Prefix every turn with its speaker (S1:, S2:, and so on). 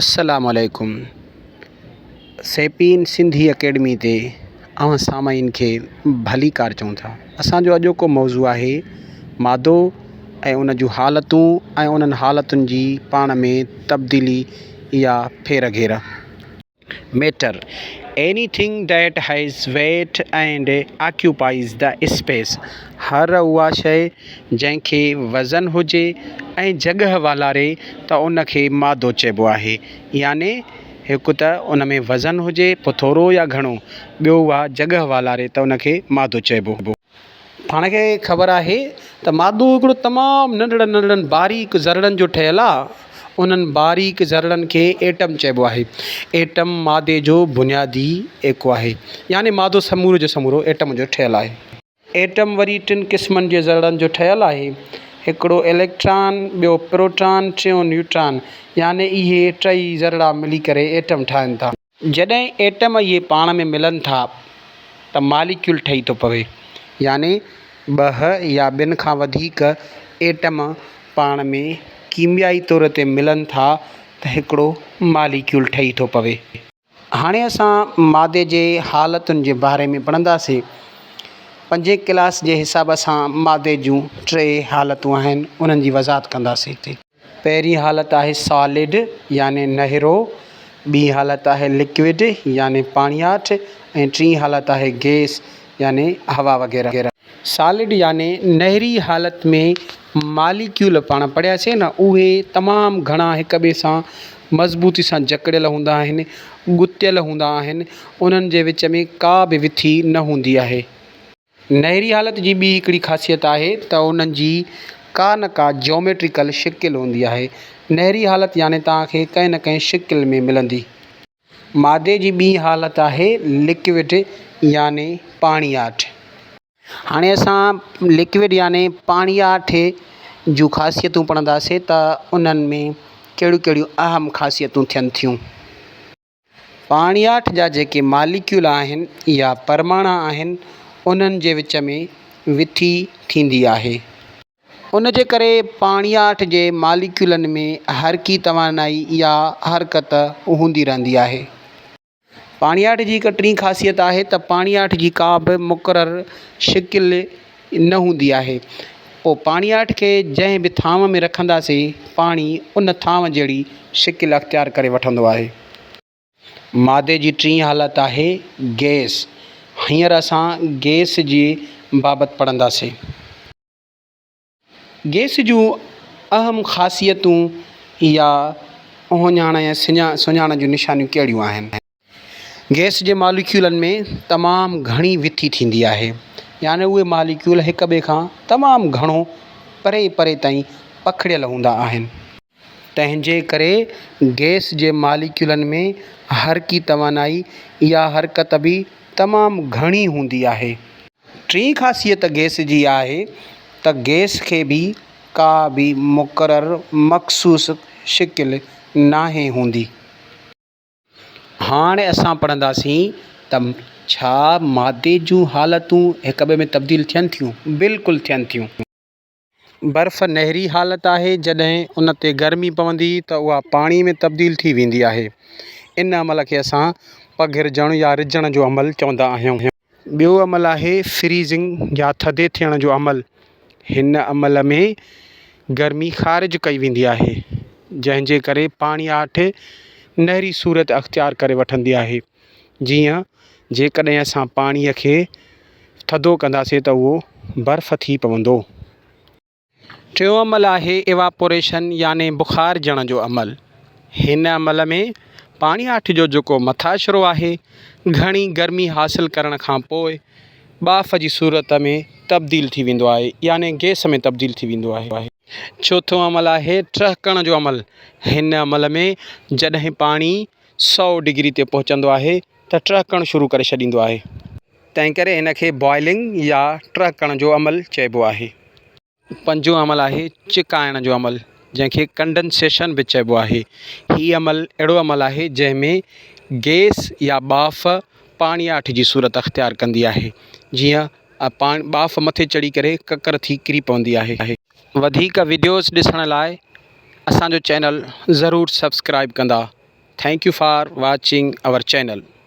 S1: السلام عليڪم سيپين سنڌي اڪيڊمي تي اوهان سامعين کي ڀلي ڪار چئون ٿا اسانجو اڄوڪو موضوع آهي مادو ۽ ان جون حالتون ۽ انهن حالتن جي پاڻ ۾ تبديلي يا ڦير گهير matter, anything that has weight and occupies the space, هر اها شيء جنهن کي وزن هجي ۽ جڳهه والاري ته ان کي مادو چئبو آهي. يعني هڪ ته ان ۾ وزن هجي پوء ٿورو يا گهڻو، ٻيو اها جڳهه والاري ته ان کي مادو چئبو. پاڻ کي خبر آهي ته مادو هڪڙو تمام ننڍڙن ننڍڙن باريڪ ذرڙن جو ٺهيل آ. انهن باريڪ ذرڙن کي ايٽم چئبو آهي. ايٽم مادي جو بنيادي ايڪو آهي. يعني مادو سمورو جو سمورو ايٽم جو ٺهيل آهي. ايٽم وري ٽن قسمن جي ذرڙن جو ٺهيل آهي. هڪڙو اليڪٽران، ٻيو پروٽان، ٽيون نيوٽران. يعني اهي ٽئي ذرڙا ملي ڪري ايٽم ٺاهن ٿا. جڏهن ايٽم اهي پاڻ ۾ ملن ٿا ته ماليڪيول ٺهي ٿو پوي يعني ٻه يا ٻن کان وڌيڪ ايٽم پاڻ ۾ ڪيميائي طور تي ملن ٿا ته هڪڙو ماليڪيول ٺهي ٿو پوي. هاڻي اسان مادي جي حالتن جي باري ۾ پڙهنداسين. پنجين ڪلاس جي حساب سان مادي جون ٽي حالتون آهن انهن جي وضاحت ڪنداسين. پهرين حالت آهي سالڊ يعني نهرو، ٻي حالت آهي لڪوڊ يعني پاڻياٺ ۽ ٽين حالت آهي گئس يعني هوا وغيره. سالڊ يعني نهري حالت ۾ ماليڪيول پاڻ پڙهياسين نه اهي تمام گهڻا هڪ ٻئي سان مضبوطي سان جڪڙيل هوندا آهن، ڳتيل هوندا آهن، انهن جي وچ ۾ ڪا به وٿي نه هوندي آهي. نهري حالت جي ٻي هڪڙي خاصيت آهي ته انهن جي ڪا نه ڪا جيوميٽريڪل شڪل هوندي آهي. نهري حالت يعني توهان کي ڪنهن نه ڪنهن شڪل ۾ ملندي. مادي جي ٻي حالت آهي لڪوڊ يعني پاڻياٺ. هاڻي اسان لڪوڊ يعني پاڻياٺ جون خاصيتون پڙهنداسين ته انهن ۾ ڪهڙيون ڪهڙيون اهم خاصيتون ٿين ٿيون. پاڻياٺ جا جيڪي ماليڪيول آهن يا پرماڻا آهن انهن جي وچ ۾ وٿي ٿيندي آهي. ان جي ڪري پاڻياٺ جي ماليڪيولن ۾ حرڪي توانائي يا حرڪت هوندي رهندي آهي. پاڻياٺ جي هڪ ٽين خاصيت آهي ته پاڻياٺ جي ڪا به مقرر شڪل نه هوندي آهي، پوء پاڻياٺ کي جنهن به ٿانو ۾ رکنداسين، پاڻي ان ٿانو جهڙي شڪل اختيار ڪري وٺندو آهي. مادي جي ٽين حالت آهي گئس. هينئر اسان گئس جي بابت پڙهنداسين. گئس جون اهم خاصيتون يا اهڃاڻ ۽ سڃاڻ جون نشانيون ڪهڙيون آهن؟ گئس جي ماليڪيولن ۾ تمام گهڻي وٿي ٿيندي آهي يعني اهي ماليڪيول هڪ ٻئي کان تمام گهڻو پري پري تائين پکڙيل هوندا آهن تنهنجي ڪري گئس جي ماليڪيولن ۾ حرڪي توانائي يا حرڪت به تمام گهڻي هوندي آهي. ٽين خاصيت گئس جي آهي ته گئس کي به ڪا به مقرر مخصوص شڪل ناهي هوندي. هاڻ اسان پڙهنداسين ته ڇا مادي جون حالتون هڪ ٻئي ۾ تبديل ٿين ٿيون؟ بلڪل ٿين ٿيون. برف نهري حالت آهي، جڏهن ان تي گرمي پوندي ته اها پاڻي ۾ تبديل ٿي ويندي آهي. ان عمل کي اسان پگهرجڻ يا رجڻ جو عمل چوندا آهيون. ٻيو عمل آهي فريزنگ يا ٿڌي ٿيڻ جو عمل. هن عمل ۾ گرمي خارج ڪئي ويندي آهي جنهن جي ڪري پاڻي آٺ نهري صورت اختيار ڪري وٺندي آهي. جيئن جيڪڏهن اسان پاڻي کي ٿڌو ڪنداسين ته اهو برف ٿي پوندو. ٽيون عمل آهي Evaporation يعني بخار جڻ جو عمل. هن عمل ۾ پاڻياٺ جو جيڪو مٿاشرو آهي، گهڻي گرمي حاصل ڪرڻ کان پوء ٻاڦ جي صورت ۾ تبديل ٿي ويندو آهي يعني گئس ۾ تبديل ٿي ويندو آهي. چوٿون عمل آهي ٽهڪڻ جو عمل. هن عمل ۾ جڏهن پاڻي سؤ ڊگري تي پهچندو آهي ته ٽهڪڻ شروع ڪري ڇڏيندو آهي. تنهنڪري هن کي Boiling يا ٽهڪڻ جو عمل چئبو آهي. پنجون عمل آهي چڪائڻ جو عمل جنهن کي Condensation به چئبو آهي. هي عمل اهڙو عمل آهي جنهن ۾ گئس يا ٻاڦ پاڻياٺ جي صورت اختيار ڪندي آهي جيئن ٻاڦ مٿي چڙهي ڪري ڪڪر ٿي ڪري پوندي آهي. وڌيڪ وڊيوز ڏسڻ لاء اسان جو چينل ضرور سبسڪرائيب ڪندا ٿينڪ يو فار واچنگ اور چينل.